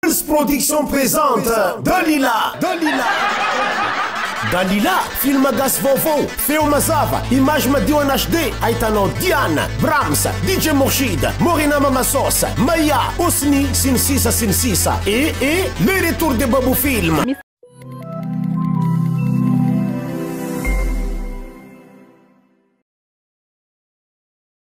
Pulse Production présente Dalila Dalila Dalila, film gasy vaovao, feo mazava, image madio en HD, ahitanao Diana, Brahms, DJ Mourchid, Morena Mama Sauce, Maya, Osni, sy ny sisa sy ny sisa. E e le retour de Babou Film.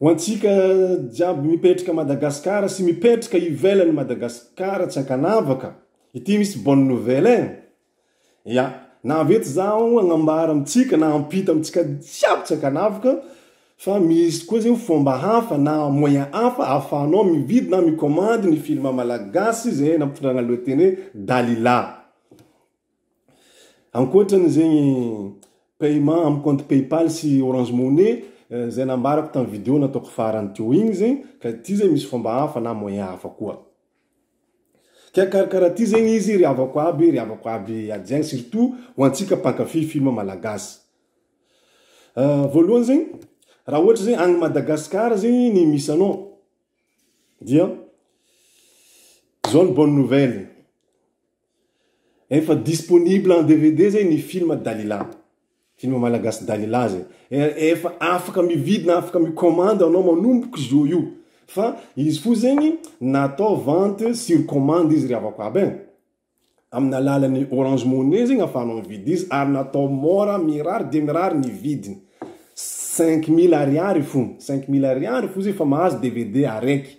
Ho antsika jiaby mipetraka Madagascar sy mipetraka ivelany Madagascar tsy ankanavaka ity misy bonne nouvelle eh! Ya, nahavety zaho agnambara amintsika na ampita amintsika jiaby tsy ankanavaka fa misy koa zao fomba hafa na moyen hafa ahafahanao mividy na mi-commande ny film malagasy zay nampitondrana lohateny hoe Dalila. Ankoatrany zegny paiement am compte paypal sy orange money zay nambarako tam video nataoko farany teo igny zegny ka ty zay misy fomba hafa na moyen hafa koa. Ka karakaraha ty zegny izy ry havako aby ry havako aby aty agny surtout ho antsika mpankafy film malagasy. Voalohany zegny raha ohatra zegny agny Madagascar zegny ny misy anao dia zao ny bonne nouvelle. Efa disponible en DVD zay ny film Dalila. Film malagasy Dalila zay. Efa afaka mividy na afaka mi-commande anao manomboka izao io. Fa izy fo zegny natao vente sur commande izy ry havako aby e. Amin'ny alalan'ny Orange Money zegny afahanao mividy izy ary natao mora mirary dia mirary ny vidiny. Cinq mille ariary fo, cinq mille ariary fo zay fa mahazo DVD araiky.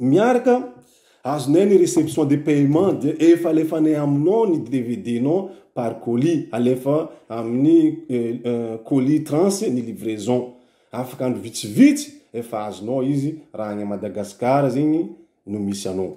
Miaraka azonay ny reception de paiement dia efa alefanay aminao ny dvd nao par colis alefa amin'ny colis trans ny livraison afaka andro vitsivitsy efa azonao izy raha any Madagascar zegny no misy anao.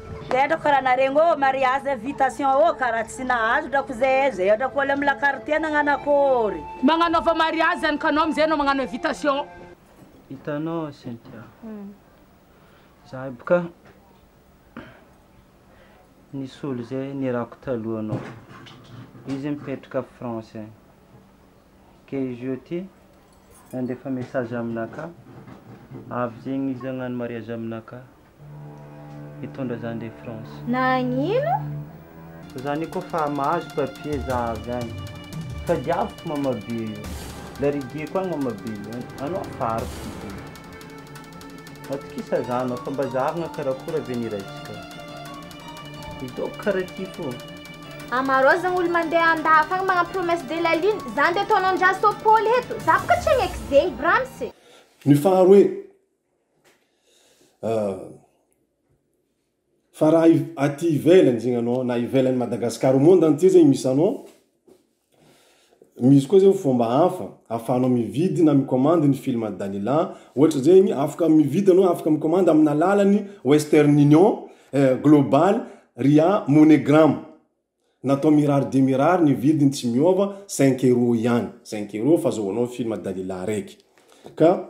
Tendrako kara naregny ô mariage invitation ô kara tsy nahazo drako ze ze drako ôlo am lakartie nagnano akôry. Magnanaova mariage any ka anao amizay anao magnano invitation. Hitanao Cynthia, zahay boka nisolo ze nirahako taloha anao, izy mipetraka France any, ke izy io ty nandefa message aminakahy avy zegny izy agnano mariage aminakahy. hitondra zany de France. Nagnino? Zany ko fa mahazo papier za avy any fa diaviko mama be io larigieko any mama be io anao afara ko be matokisa za anao fa mba zarina karakora ve ny raintsika hidaoko kara ty fo. Amarozagna olo mandeha andafy agny magnano promesse de la lune, zany de ataonao ndraso Paoly eto, za boka tsy agnaiky zegny brams e. Ny faharoe, Fa raha aty ivelany zegny anao na ivelan'i Madagasikara, au monde entier zegny misy anao, misy koa zao fomba hafa ahafahanao mividy na mi-commande ny film an'i Danila, ohatra zegny afaka mividy anao, afaka mi-commande amin'ny alalan'ny Western Union, Global, Ria, Money Gram. Natao mirary dia mirary ny vidiny tsy miova, cinq euros ihany, cinq euros fa azahoanao ny film Dalila araiky. Ka.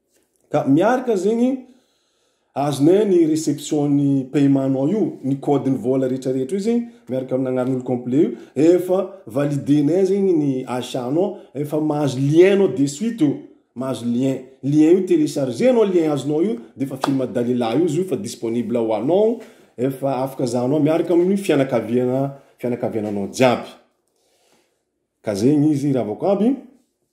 Ka miaraka zegny azonay ny reception ny paiement nao io ny code ny vola rehetra rehetra io zegny miaraka amin'ny anaran'olo complet io efa valide nay zegny ny achat nao efa mahazo lien nao de suite io mahazo lien lien io telecharge nao lien azonao io de efa film dalila io zio fa disponible ho anao efa afaka zahanao miaraka amin'ny fianakaviana fianakaviananao jiaby ka zegny izy ravako aby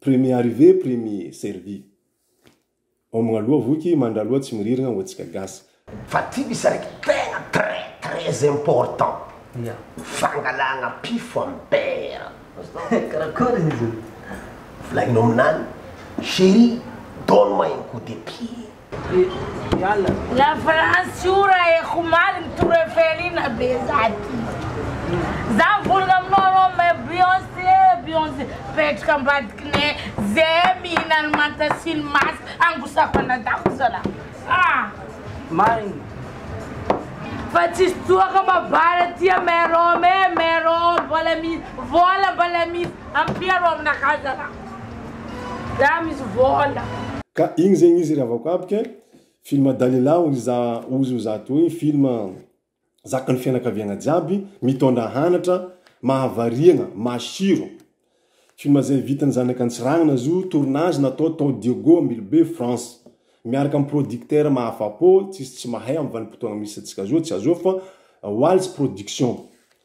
Premier arrivé premier servi. Homagna aloha voky, mandra aloha tsy miririgna ho antsika gasy. Fa ty misy araiky tegna très très important fangalagna pifo am beurre azonao? Karakory izy io? Volagnino aminany chérie donne moi un coup de pied. La France ora e omaly mitory eo Felina be za ty Za mivolagna aminao anao mais Beyonce Beyonce Mipetraka ambadikinay Zay mihina ny manta sy ny masy Angosako anadahiko zalah ah Marigny Fa tsisy tsoaka mba vary aty a Mère Rome e Mère Rome Vôla misy Vôla mbala misy Ampia rô aminakahy zalah. Za misy vola. Ka igny zegny izy ry avakabk eh, film Dalila ozy za ozy oza atoy film zakan'ny fianakaviagna jiaby mitondra hanatra mahavariagna masiro film zay vitan'ny zanaka antsiragna azo tournage natao tao Diego Ambilobe France miaraka am producteur mahafapo tsisy tsy mahay am vanimpotoagna misy antsika zao tsy azo fa Waltz production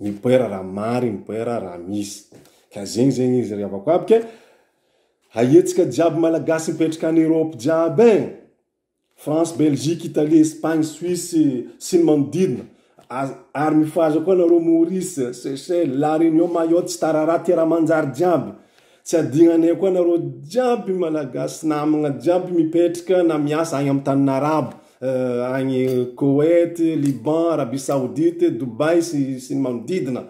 mipoera raha mary mipoera raha misy ka zegny zegny izy ry havako aby ka haiantsika jiaby malagasy mipetraka any Europe jiaby e France Belgique Italie Espagne Suisse sy ny manodidina a- ary mifohaza koa nareo Maurice Seychelles La Réunion Mayotte tsy tarara tera manjary jiaby tsy adignanay koa nareo jiaby malagasy namagna jiaby mipetraka na miasa agny amy tanin'arabo agny Koweït, Liban, Arabie Saoudite, Dubaï sy sy ny manodidina.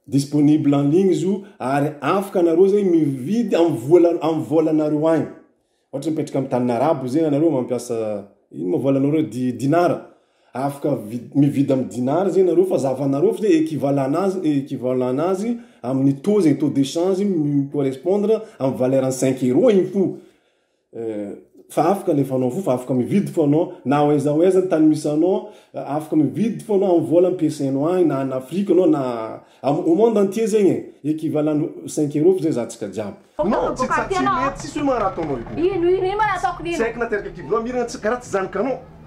Disponible en ligne izy io ary afaka anareo zegny mividy am vola am vôlanareo agny. Ôhatra mipetraka am tany arabo zegny anareo mampiasa ino ma vôlanareo reo di- dinara, afaka vi- mividy am dinara zegny nareo fa zavanareo fô ze équivalent nazy équivalent nazy am taux zegny taux de change mi correspondre am valeur an'ny cinq euro igny fô. fa afaka alefa anao fo fa afaka mividy fo anao na ao aiza ao aiza ny tany misy anao afaka mividy fo anao amin'ny vola ampiasainao agny na en Afrique anao na au monde entier zegny e equivalent cinq euros fo zay zahantsika jiaby non tsy tsy mety tsisy hoe magnaraha ataonao io ino ino ino ma raha ataoko ino tsy haiko na teraka kivy loha miragna tsy karaha tsy zanakanao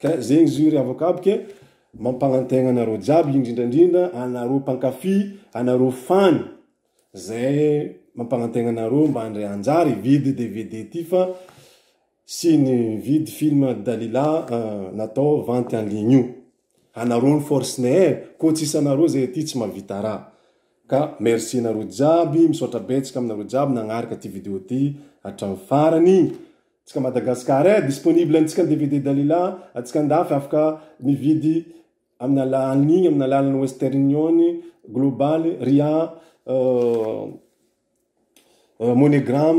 Ka zegny izy io ry avoka aby ke mampagnantegna anareo jiaby indrindra indrindra anareo mpankafy anareo fan zay mampagnantegna anareo mba handray anjara hividy dvd ty fa sy ny mividy film Dalila natao vente en ligne io. Anareo ny force ny eh! Koa tsisy anareo zay aty tsy mahavita raha. Ka merci anareo jiaby, misaotra betsaka aminareo jiaby nagnaraka ty video ty hatramin'ny farany. Tsika Madagascar eh! Disponible antsika ny dvd Dalila, atsika andafy afaka mividy amin'ny ala en ligne amin'ny alalan'ny Western Union, Global, Ria, Moneygram.